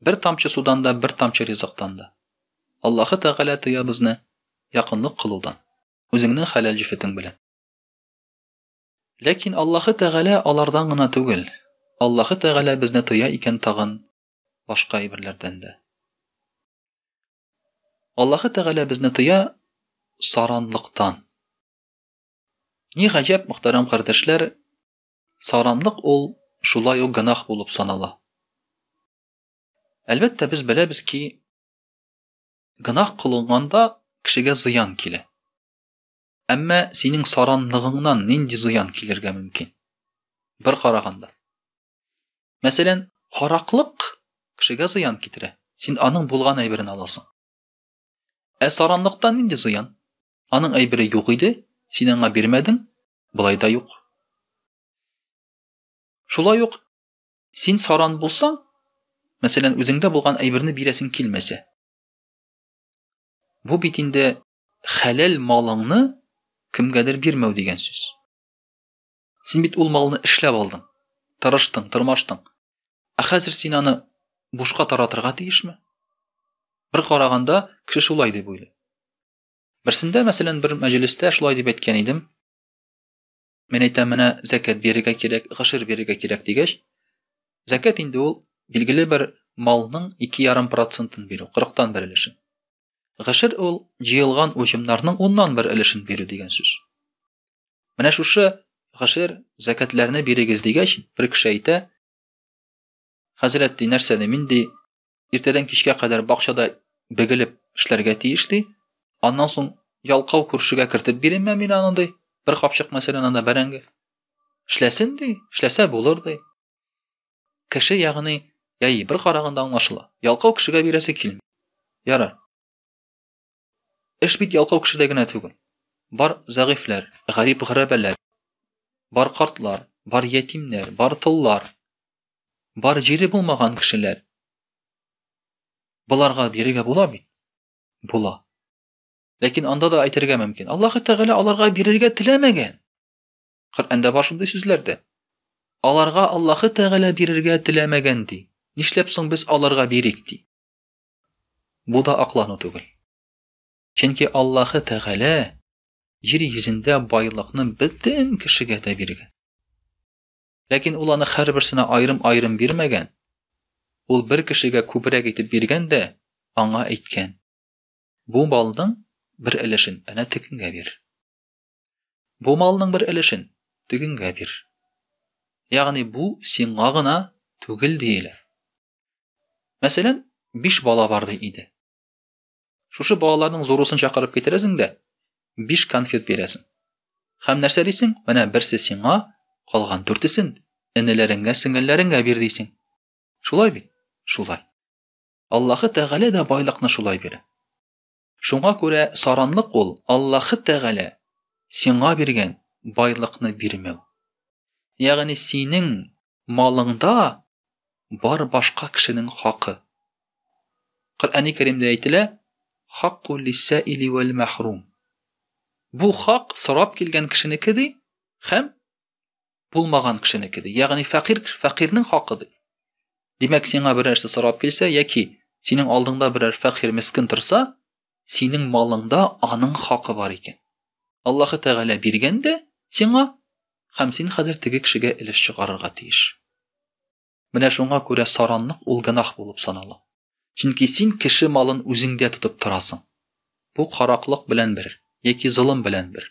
Бер тамчы судан да, бер тамчы ризыктан да. Аллаһы Тәгалә тыя безне якынлык кылудан, үзеңнең хәләл җефетең белән. Ләкин Аллаһы Тәгалә алардан гына түгел, Аллаһы Тәгалә безне тыя икән тагын башка әйберләрдән дә. Аллаһы Тәгалә безне тыя саранлыктан. Ни гаҗәп, мөхтәрәм кардәшләр, Саранлык ул шулай ук гөнаһ булып санала. Әлбәттә, без беләбез ки, гөнаһ кылынганда кешегә зыян килә. Әмма синең саранлыгыңнан нинди зыян килергә мөмкин? Бер караганда. Мәсәлән, хараклык кешегә зыян китерә. Син аның булган әйберен аласың. Ә саранлыктан нинди зыян? Аның әйбере юк иде, син аңа бирмәдең, Болай да юк. Шулай ук син саран булсаң, мәсәлән, үзеңдә булган әйберне бирәсең килмәсә. Бу бит инде хәләл малыңны кемгәдер бирмәү дигән сүз. Син бит ул малны эшләп алдың, тырыштың, тырмаштың. Ә хәзер син аны бушка таратырга тиешме? Бер караганда, кеше шулай дип уйлый. Берсендә, мәсәлән, бер мәҗлестә шулай дип әйткән идем. Мен әйтәм, менә зәкәт бирергә кирәк, гашир бирергә кирәк дигәч, зәкәт инде ул билгеле бер малның 2,5 процентын бирү, 40тан бер өлешен. Гашир ул җыелган уҗымнарның 10ннан бер өлешен бирү дигән сүз. Менә шушы гашир зәкәтләрне бирегез дигәч, бер кеше әйтә, Хәзрәт ди, нәрсә ди, мин ди, иртәдән кичкә кадәр бакчада бегелеп эшләргә тиеш ди. Аннан соң ялкау күршегә кертеп биренмә мин аны ди. Бер капчык мәсәлән анда бәрәңге. Эшләсен ди, эшләсә булыр ди. Кеше ягъни, яи бер караганда аңлашыла. Ялкау кешегә бирәсе килми. Ярар. Эш бит ялкау кешедә генә түгел. Бар зәгыйфьләр, гарип гәрәбәләр, бар картлар, бар ятимнәр, бар тыллар, бар җире булмаган кешеләр. Боларга бирергә була бит. Була. Ләкин анда да әйтергә мөмкин. Аллаһ Тәгалә аларга бирергә теләмәгән. Коръәндә бар шундый сүзләр дә. Аларга Аллаһ Тәгалә бирергә теләмәгән ди. Нишләп соң без аларга бирик ди? Бу да аклану түгел. Чөнки Аллаһы Тәгалә җир йөзендә байлыкны бөтен кешегә дә биргән. Ләкин ул аны һәрберсенә аерым-аерым бирмәгән. Ул бер кешегә күбрәк итеп биргән дә аңа әйткән: "Бу малның бер өлешен әнә тегенгә бир. Бу малның бер өлешен тегенгә бир." Ягъни бу сиңа гына түгел диелә. Мәсәлән, биш бала бар ди иде. Шушы балаларның зурусын чакырып китерәсең дә, биш конфет бирәсең. Хәм нәрсә дисең? Менә берсе сиңа, калган дүртесен энеләреңгә, сеңелләреңгә бир дисең. Шулай бит? Шулай. Аллаһы Тәгалә дә байлыкны шулай бирә. Шуңа күрә саранлык ул Аллаһы Тәгалә сиңа биргән байлыкны бирмәү. Ягъни синең малыңда бар башка кешенең хакы. Коръәни Кәримдә әйтелә, Хакку лиссаили вәл мәхрум. Бу хак сорап килгән кешенеке ди һәм булмаган кешенеке ди ягъни фәкыйрь фәкыйрьнең хакы ди димәк сиңа бер нәрсә сорап килсә яки синең алдыңда берәр фәкыйрь мескен торса синең малыңда аның хакы бар икән аллаһы тәгалә биргән дә сиңа һәм син хәзер теге кешегә өлеш чыгарырга тиеш менә шуңа күрә саранлык ул гөнаһ булып санала чөнки син кеше малын үзеңдә тотып торасың бу караклык белән бер яки золым белән бер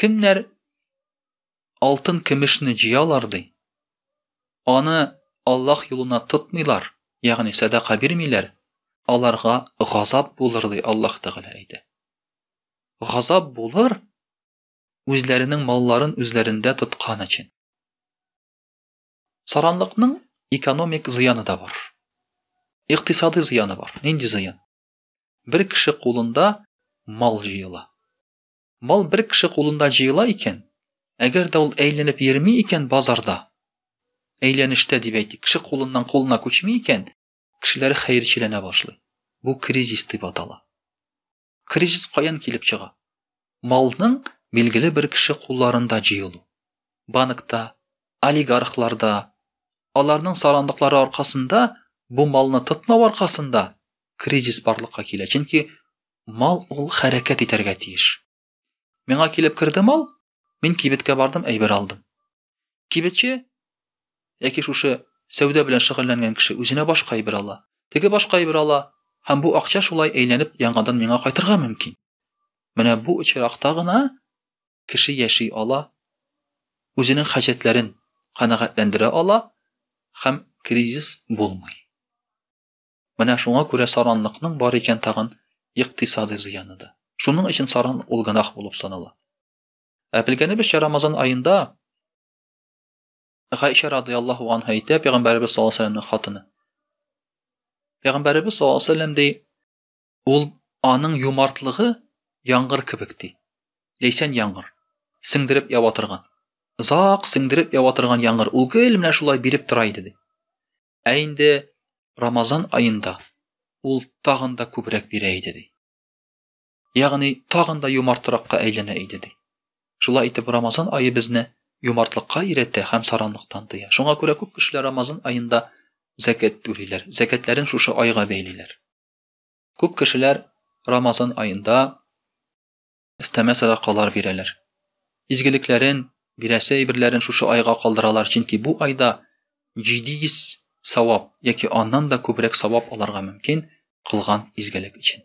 Кемнәр алтын көмешне җыялар ди. Аны Аллаһ юлына тотмыйлар, ягъни садака бирмиләр, аларга газап булыр ди Аллаһ Тәгалә әйтә. Газап булыр үзләренең малларын үзләрендә тоткан өчен. Саранлыкның экономик зыяны да бар. Икътисади зыяны бар. Нинди зыян? Бер кеше кулында мал җыела. Мал бер кеше кулында җыела икән, әгәр дә ул әйләнеп йөрми икән базарда, әйләнештә дип әйтик, кеше кулыннан кулына күчми икән, кешеләр хәерчеләнә башлый. Бу кризис дип атала. Кризис каян килеп чыга? малның билгеле бер кеше кулларында җыелу. Банкта, олигархларда, аларның сарандыклары аркасында бу малны тотмау аркасында кризис барлыкка килә. Чөнки мал ул хәрәкәт итәргә тиеш. Миңа килеп керде мал, мин кибеткә бардым, әйбер алдым. Кибетче яки шушы сәүдә белән шөгыльләнгән кеше үзенә башка әйбер ала. Теге башка әйбер ала, һәм бу акча шулай әйләнеп яңадан миңа кайтырга мөмкин. Менә бу очракта гына кеше яши ала, үзенең хаҗәтләрен канәгатьләндерә ала һәм кризис булмый. Менә шуңа күрә саранлыкның бар икән тагын икътисадый зыяны да. Шуның өчен саран ул гынах булып санала. Ә белгәнебезчә, Рамазан аенда Гайша радыйаллаһу анһа әйтә, пәйгамбәребез саллаллаһу алейһи вәсәлләмнең хатыны. Пәйгамбәребез саллаллаһу алейһи вәсәлләм ди, ул аның юмартлыгы яңгыр кебек ди. Ләйсән яңгыр. Сеңдереп ява торган. Зак сеңдереп ява торган яңгыр. Ул гел менә шулай биреп тора иде ди. Ә инде Рамазан аенда ул тагын да күбрәк бирә иде ди. Ягъни тагын да юмартракка әйләнә иде ди. Шулай итеп Рамазан ае безне юмартлыкка өйрәтә һәм саранлыктан тыя. Шуңа күрә күп кешеләр Рамазан аенда зәкәт түлиләр. Зәкәтләрен шушы айга бәйлиләр. Күп кешеләр Рамазан аенда истәмә садакалар бирәләр. Изгелекләрен, бирәсе әйберләрен шушы айга калдыралар, чөнки бу айда 700 савап яки аннан да күбрәк савап аларга мөмкин кылган изгелек өчен.